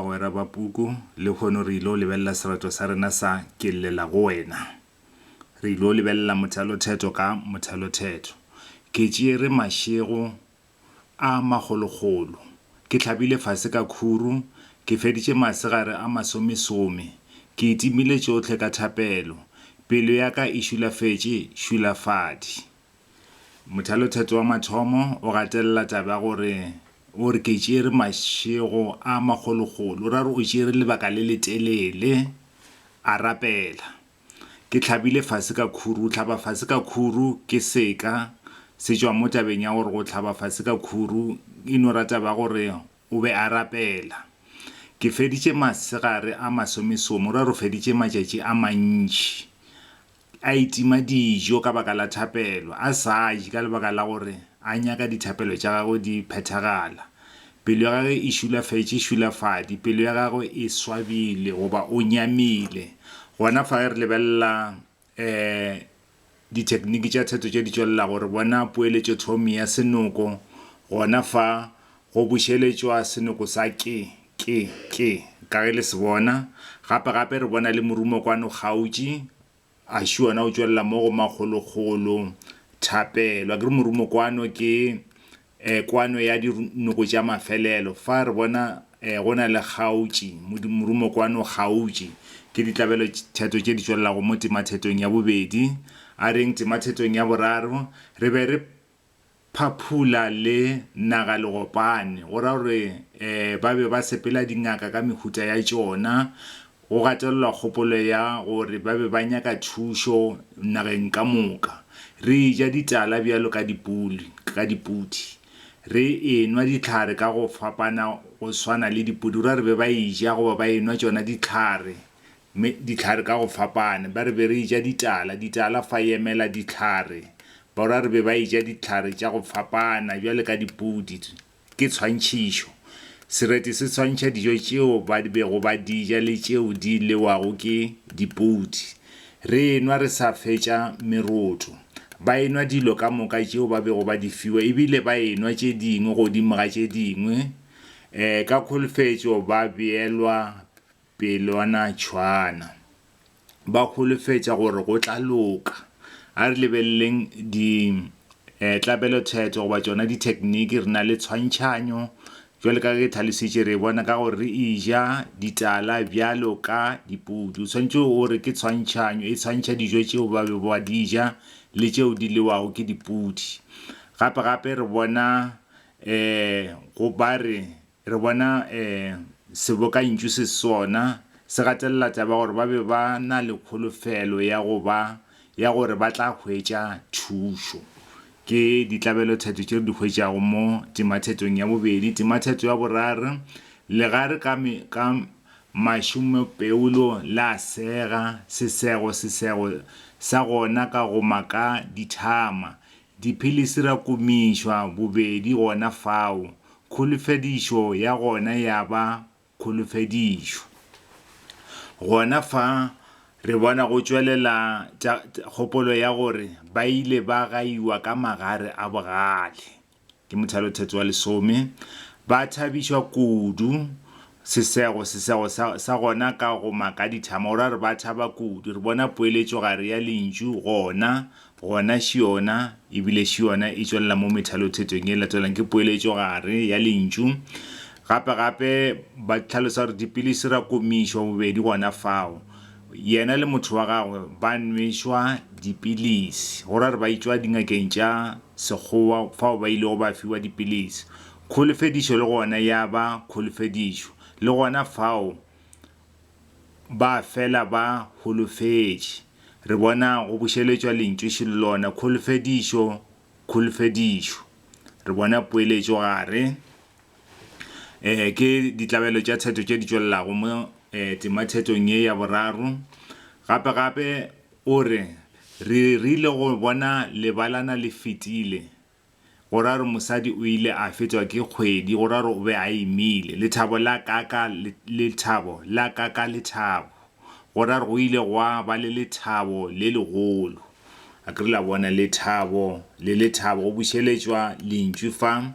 Bagwera ba puku, lehono re il'o lebelela sereto sa rena sa Ke Llela go Wena. Re il'o lebelela mothalothetho ka mothalothetho. Ke tšere mašego a magologolo. Ke hlabile fase ka khuru. Ke feditše masegare a masomesome. Ke itimile tšohle ka thapelo. Pelo ya ka e šulafetše šulafadi. Mothalothetso wa mathomo o gatelela taba ya gore o re ke tšere mašego a magologolo, o ra gore o tšere lebaka le le telele a rapela. Ke tlhabile fase ka khuru, tlhaba fase ka khuru ke seka se tšwa mo tabeng ya gore go tlhaba fase ka khuru e no ra taba ya gore o be a rapela. Ke feditše masegare a masomesome, o ra gore o feditše matšatši a mantši a itima dijo ka baka la thapelo, a sa je ka lebaka la gore a nyaka dithapelo tša gagwe di phethagala. Pelo ya gagwe e šulafetše šulafadi, pelo ya gagwe e swabile goba o nyamile. Gona fa ge re lebelela um dithekniki tša theto tše di tšwelelago, re bona poeletšothomi ya senoko gona fa go bušeletšwa senoko sa ke. Ke, ke, ka ge le se bona, gape, gape re bona le morumo kwano kgautši, a šwi ona o tšwelela mo go makgolokgolo, thapelo. Akere morumo kwano ke, eh, kwano ya di, noko tša mafelelo. Fa re bona, eh, go na le kgautši, modu, morumo kwano kgautši. Ke ditlabelo tš, theto tše di tšwelelago mo temathetong ya bobedi. A reng temathetong ya boraro, re be re, Phaphula le Nagalegopane, go ra gore ba be ba sepela dingaka ka mehuta ya tšona. Go gatelelwa kgopolo ya gore ba be ba nyaka thušo nageng ka moka. Re eja ditala bjalo ka dipuli, ka dipudi. Re enwa dihlare ka go fapana go swana le dipudi, go ra gore be ba eja goba ba enwa tšona dihlare Mme dihlare ka go fapane, ba re be re eja ditala, ditala fa e emela dihlare. Borwa re be ba eja dihlare tša go fapana, bjale ka dipudi. Ke tshwantšhišo. Sereti se swantšha dijo tšeo ba bego ba di ja le tšeo di lewago ke dipudi. Re enwa re sa fetša meroto. Ba enwa dilo ka moka tšeo ba bego ba di fiwa, e bile ba enwa tše dingwe godimo ga tše dingwe. Ka kholofetšo ba beelwa. Pelwanatšhwana. Ba holofetša gore go tla loka. A re lebeleleng ditlabelothetho goba tšona dithekniki. Re na le tshwantšhanyo, bjalo ka ge ke tlhalositše, re e bona ka gore re eja ditala bjalo ka dipudi. O swanetše o re ke tshwantšhanyo, e tshwantšha dijo tšeo ba bego ba di ja le tšeo di lewago ke dipudi. Gape-gape re bona go ba re Re bona sebokantšu se sona se gatelela taba ya gore ba be ba na le kholofelo ya go ba ya gore ba tla hwetša thušo. Ke ditlabelothetho tše re di hwetšago mo temathetong ya bobedi. Temathetho ya boraro, Legare ka ka mašomepeolo la sega sesego sesego sa gona ka go maka dithama, Dipilisi ra kumišwa bobedi gona fao, kholofedišo ya gona ya ba kholofedišo. Gona fa re bona go tšwelela tša kgopolo ya gore ba ile ba gaiwa ka magare a bogale, ke mothalotheto wa lesome, ba thabišwa kudu Sesego, Sesego sa, sa gona ka go maka dithama, o ra re ba thaba kudu. Re bona poeletšo gare ya lentšu gona, gona šiona, e bile šiona e tšwelela mo methalothetong ye latelang, ke poeletšo gare ya lentšu. Gape, gape ba hlalosa gore dipilisi ra komišwa bobedi gona fao, yena le motho wa gagwe ba nwešwa dipilisi, go ra re ba itšwa dingakeng tša Sekgowa fao ba ilego ba fiwa dipilisi. Kholofedišo le gona ya ba kholofedišo, le gona fao ba fela ba holofetše. Re bona go bušeletšwa lentšu šilo lona, kholofedišo, kholofedišo. Re bona poeletšo gare. Um, ke ditlabelo tša theto tše di tšwelelago mo tema thetong ye ya boraro. Gape gape o re, Re rile go bona lebalana le fetile, Go ra gore mosadi o ile a fetšwa ke kgwedi, go ra gore o be a imile. Lethabo la ka ka le, lethabo la ka ka lethabo. Go ra gore go ile gwa ba le lethabo le legolo. A ke re la bona? Lethabo le lethabo go bušeletšwa lentšu fa.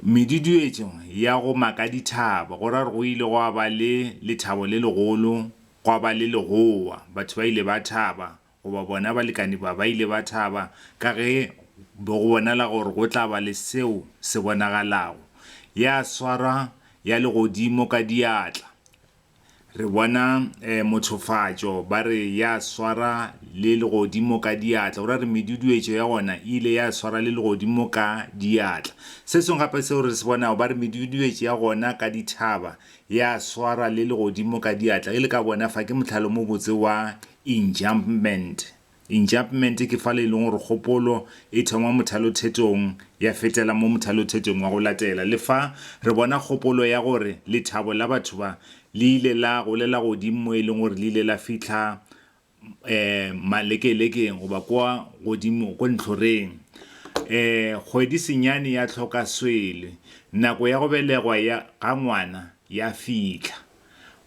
Meduduetšo ya go maka dithaba, go ra gore go ile gwa ba le lethabo le legolo, gwa ba le legowa. Batho ba ile ba thaba, goba bona balekane ba ba ile ba thaba ka ge be go bonala gore go tla ba le seo se bonagalago, ya swarwa ya legodimo ka diatla. Re bona eh, mothofatšo, ba re ya swara le legodimo ka diatla, go ra re meduduetšo ya gona e ile ya swara le legodimo ka diatla. Se sengwe gape seo re se bonago, ba re meduduetšo ya gona ka dithaba ya swara le legodimo ka diatla. Ge le ka bona fa, ke mohlalo mo botse wa Enjambment, Enjambment ke fale e leng gore kgopolo e thoma mothalothetong ya fetela mo mothalothetong wa go latela. Le fa re bona kgopolo ya gore lethabo la batho ba le ile la golela godimo mo e leng gore le ile la fihla um malekelekeng goba kwa godimo ko ntlhoreng. Um kgwedi senyane ya tlhoka swele, nako ya go belegwa ya ga ngwana ya fihla.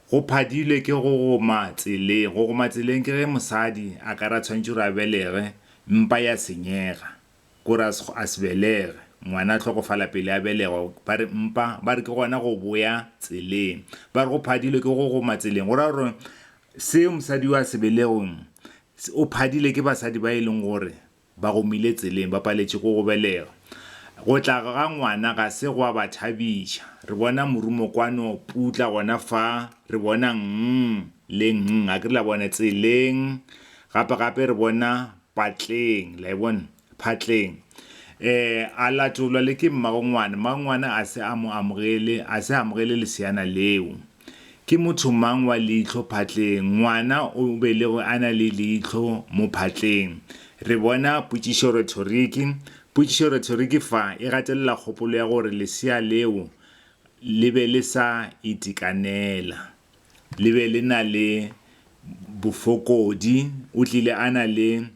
Go phadilwe ke go goma tseleng. Go goma tseleng ke ge mosadi a ka re a tshwanetše gore a belege, mpa ya senyega. Ke gore a se, a se belege. Ngwana a hlokofala pele a belegwa. Ba re mpa, ba re ke gona go boya tseleng. Ba re go phadilwe ke go goma tseleng. Go ra gore seo mosadi yo a se belegweng, o phadile ke basadi ba e leng gore Ba gomile tseleng ba paletše ke go belega. Go tla ga ngwana ga se gwa ba thabiša. Re bona morumo kwano putla gona fa, re bona nng le nng, a ke re la bona, tseleng, gape gape re bona patleng, la e bona, phatleng. Eh, a latolwa le ke mmagongwana. Mmagongwana a se a mo amogele, a se amogele leseana leo. Ke motho mang wa leihlo phatleng? Ngwana o belegwe a na le leihlo mo phatleng. Re bona potšišoretoriki. Potšišoretoriki fa e gatelela kgopolo ya gore lesea leo le be le sa itekanela, le be le na le bofokodi, o tlile a na le,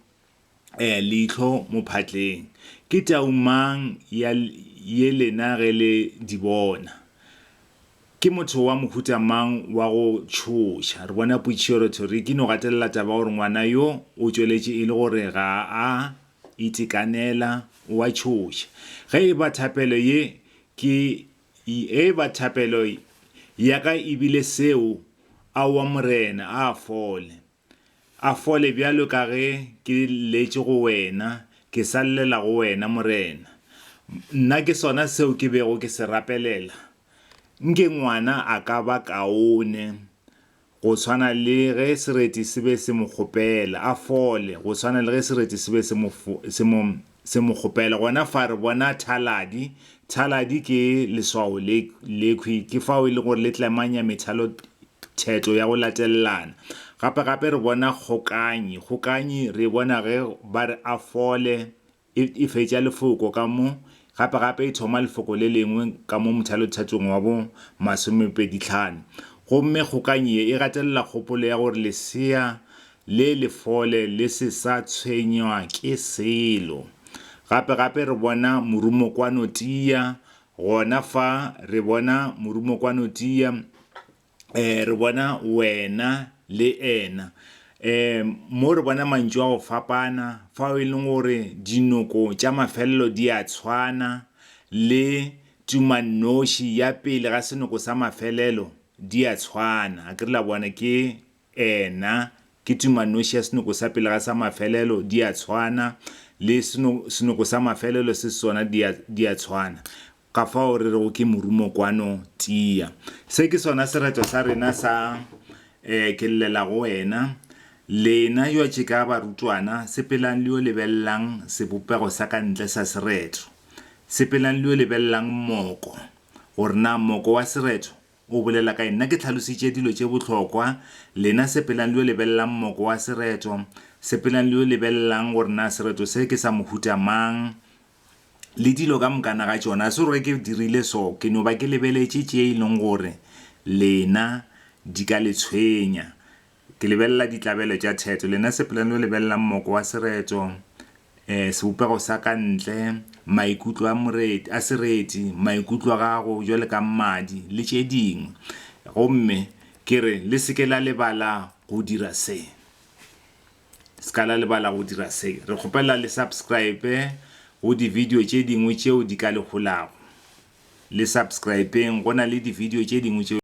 leihlo mophatleng. Ke tau mang ya ye lena ge le di bona? Ke motho wa mohuta mang wa go tšhoša? Re bona Puichio Rotori ke no gatelela taba ya gore ngwana yo o tšweletše e le gore ga a itekanela, o a tšhoša. Ge e ba thapelo ye ke ge e ba thapelo ya ka e bile seo, aowa Morena, a fole. a fole bjalo ka ge ke letše go wena, ke sa llela go wena, Morena. Nna ke sona seo ke bego ke se rapelela. Nke ngwana a ka ba kaone, go swana le ge sereti se be se mo kgopela, a fole, go swana le ge sereti se be se mo, se mo Se mo kgopele. Gona fa re bona thaladi. Thaladi ke leswao le lekhwi ke fao e le gore le tlemanya methalotheto ya go latelelana. Gape-gape re bona kgokanyi. Kgokanyi re e bona ge ba re a fole, e e fetša lefoko ka mo, gape-gape e thoma lefoko le lengwe ka mo mothalothetong wa bo masomepedihlano. Gomme kgokanyi ye e gatelela kgopolo ya gore lesea Le le fole le se sa tshwenywa ke selo. Gape-gape re bona morumokwano tia, gona fa, re bona morumokwano tia, e, re bona wena le ena. E, mo re bona mantšu a go fapana, fao e leng gore dinoko tša mafelelo di a tshwana, le tumannoši ya pele ga senoko sa mafelelo di a tshwana. A ke re la bona? Ke. Eena, ke tumanoši ya senoko sa pele ga sa mafelelo, di a tshwana, le seno, senoko sa mafelelo se sona, di a, di a tshwana. Ka fao re rego ke morumo kwano, tia. Se ke sona sereto sa rena sa, ee, ke llela go wena, lena yoatšeka barutwana, sepelang le yo lebelelang sebopego sa ka ntle sa sereto. Sepelang le yo lebelelang moko, gore na moko wa sereto O bolela ka nna ke tlhalositše dilo tše bohlokwa, lena sepelang le yo lebelelang moko wa sereto, sepelang le yo lebelelang gore na sereto se ke sa mohuta mang, le dilo ka mokana ga tšona. Ga se gore ge ke dirile so, ke no ba ke lebeletše tše e leng gore lena di ka le tshwenya. Ke lebelela ditlabelo tša theto, lena sepelang le yo lebelelang moko wa sereto, Sebopego sa ka ntle, maikutlo a moreti, a sereti, maikutlo a gago bjale ka mmadi, le tše dingwe. Gomme Ke re, le se ke la lebala go dira se. Se ka la lebala go dira se. Re kgopela le subscribe go di-video tše dingwe tšeo di ka le holago. Le subscribeng, go na le di-video tše dingwe tšeo.